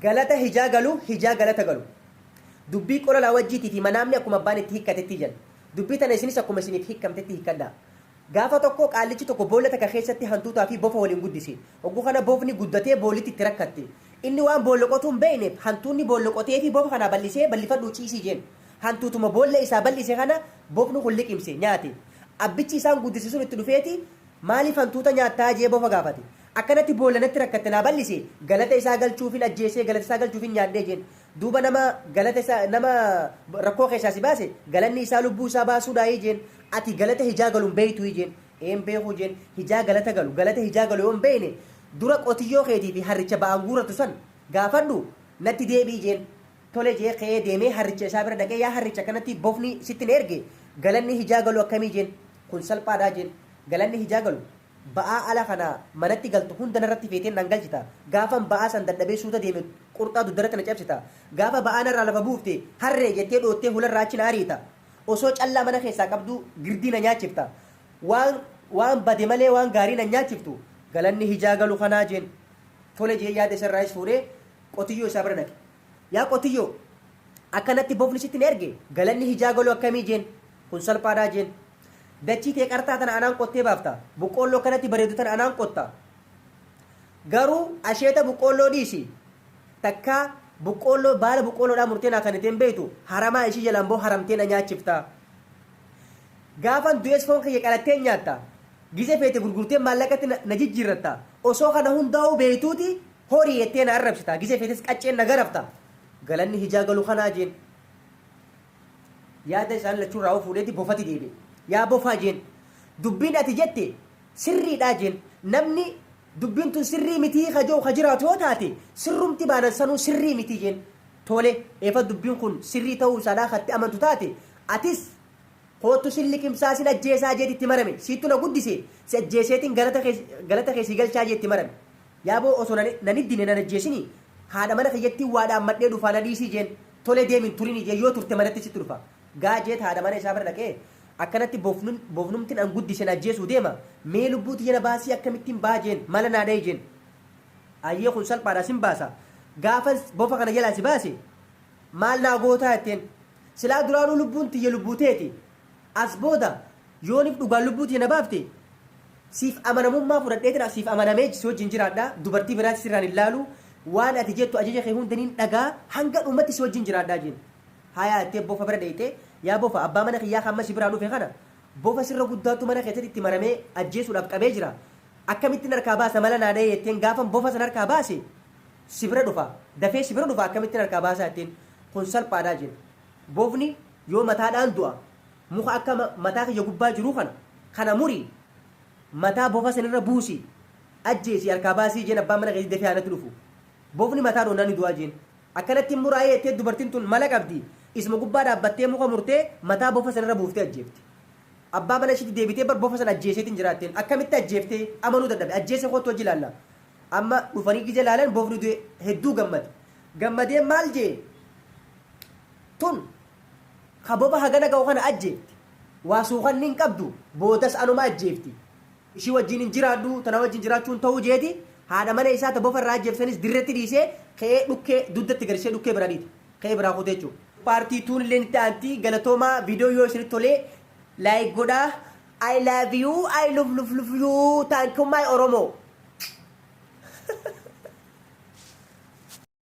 Galata hijaa galu, hijaa galata galu. Dubbii qola laawajjiitii fi manaamni akkuma abbaan itti hikkatetti jedha. Dubbii tana isinis akkuma isiniif hikkamtetti hikkadhaa. Gaafa tokko qaallichi tokko boolla takka keessatti hantuutaa fi bofa waliin guddise. Oggu kana bofni guddatee boollitti itti rakkatte. Inni waan boolla qotuu hin beeyneef hantuunni boolla qoteefii bofa kanaa bal'isee bal'ifadhuu ciisii jeen. Hantuutuma boolla isaa bal'ise kana bofni kun liqimse, nyaate. Abbichi isaan guddise sun itti dhufeeti maaliif hantuuta nyaattaa jee bofa gaafate. Akkanatti boolla natti rakkatte naa bal'ise, galata isaa galchuufin ajjeesee, galata isaa galchuufin nyaadhe jeen. Duuba nama galata isa, nama rakkoo keessaa si baase, galanni isaa lubbuu isaa baasuudhaayii jeen. Ati galata hijaa galu hin beeytuuyii jeen. Ee hin beekuu jeen. Hijaa galata galu, galata hijaa galu yoo hin beeyne, dura qotiyyoo keetii fi harricha ba'aan guurratu san gaafadhu, natti deebi'i jeen. Tole jee ka'ee deemee harricha isaa bira dhaqee, yaa harricha akkanatti bofni sitti na erge, galanni hijaa galu akkamii jeen. Kun salphaadhaa jeen. Galanni hijaa galu, Ba'aa ala kanaa manatti galtu hunda narratti feetee naan galchita. Gaafan ba'aa san dadhabee suuta deeme qurxaa dugdarratti na cabsita. Gaafa ba'aa narraa lafa buufte harree jettee dhoottee hularraa achi na ariita. Osoo callaa mana keessaa qabduu girdii na nyaachifta. Waan waan bade malee waan gaarii na hin nyaachiftu. Galanni hijaa galu kanaa jeen. Tole jee yaada isarraayis fuudhee qotiyyoo isaa bira dhaqe. Yaa qotiyyoo! Akka natti bofni sitti na erge galanni hijaa galu akkamii jeen. Kun salphaadhaa jeen. Dachii tee qartaa tana anaan qottee baafta. Boqqoolloo akkanatti bareedu tana anaan qotta. Garuu asheeta boqqoolloo dhiisi. Takkaa boqqoolloo baala boqqoolloodhaa murtee naa kennitee hin beektu, haramaa ishii jalaan boo haramtee na nyaachifta. Gaafan du'es foon kiyya qalattee nyaatta. Gize feete gurgurtee maallaqatti na, na jijjiirratta. Osoo kana hundaa'uu beektuuti horii jettee na arrabsita. Gize feetes qacceen na garafta. Galanni hijaa galu kanaa jeen. Yaada isaan lachuu irraa of fuudheeti bofati deebi'e. Yaa bofaa jeen. Dubbiin ati jette sirriidhaa jeen. Namni dubbiin tun sirrii mitii ka je'u ka jiraatu yoo taate sirrumti baanan sanuu sirrii miti jeen. Tole eefa dubbiin kun sirrii ta'uu isaadhaa ka itti amantu taate atis koottu sin liqimsaa sin ajjeesaa jeeti itti marame. Siittu na guddise si ajjeeseetin galata kee galata kee sii galchaa jee itti marame. Yaaboo osoo na na hin hiddine na hin ajjeesinii haadha mana kiyyattii waa dhaammadhee dhufaa na dhiisii jeen. Tole deemi hin turin ijee yoo turte manatti sitti dhufa. Gaa jeet haadha mana isaa bira dhaqee Akkanatti bofnun bofnumtin an guddise na ajjeesuu deema mee lubbuu tiyya na baasii akkamittin baha jeen mala naa dhahi jeen Ayyee kun salphaadha sin baasa gaafan bofa kana jalaa si baase maal naa gootaa jetteen Silaa duraanuu lubbuun tiyya lubbuu teeti As booda yoonif dhugaan lubbuu tee na baafte siif amanamummaa fudhadheetira siif amanamee si wajjin jiraadha dubartii biraatti sirraan hin laalu waan ati jettu ajaja kee hunda nin dhagaha hanga dhumatti si wajjin jiraadha jeen haayaa jettee bofa bira dheyxee yaa bofa abbaa mana kiyyaa ka amma si biraa dhufe kana bofa sirra guddaattu mana keessatti itti maramee ajjeesuudhaaf qabee jira akkamittin harkaa baasa mala naa dhahee jetteen gaafan bofa san harkaa baase si bira dhufa dafee si bira dhufa akkamittin harkaa baasaa jetteen kun salphaadha jeen bofni Yoo mataadhaan du'a muka akka mataa kiyya gubbaa jiruu kana, kana muri, mataa bofa san irra buusi, ajjeesii harkaa baasii jeen abbaan mana keetii dafee haa natti dhufu. Bofni mataa dhoonnaan ni du'aa jeen. Akkanatti hin muraayee jettee dubartiin tun mala qabdi, isuma gubbaa dhaabbattee muka murtee mataa bofa san irra buuftee ajjeefte. Abbaa mana ishiitti deebitee bar bofa san ajjeeseetiin jira jetteen. Akkamitti ajjeefte? Amanuu dadhabe. Ajjeese koottu wajji ilaalla. Amma dhufanii gize ilaalan bofni du'e hedduu gammade. Gammadee maal jee? Tun ka boba hagana gahu kana ajjeefte, waa suukanni hin qabdu, boodas anuma ajjeefti. Ishii wajjiin hin jiraadhu, ta na wajjiin jiraachuu hin ta'uu jeeti, haadha mana isaa ta bofa irraa ajjeefte sanis dirretti dhiisee, ka'ee dhukkee duddatti gad ishee dhukkee biraa dhiite. Ka'ee biraa kute jechuudha. Paartii tuun illeen itti aanti. Galatoomaa video yoo isinitti tole like godhaa. I love you, I love love love you, thank you my Oromo.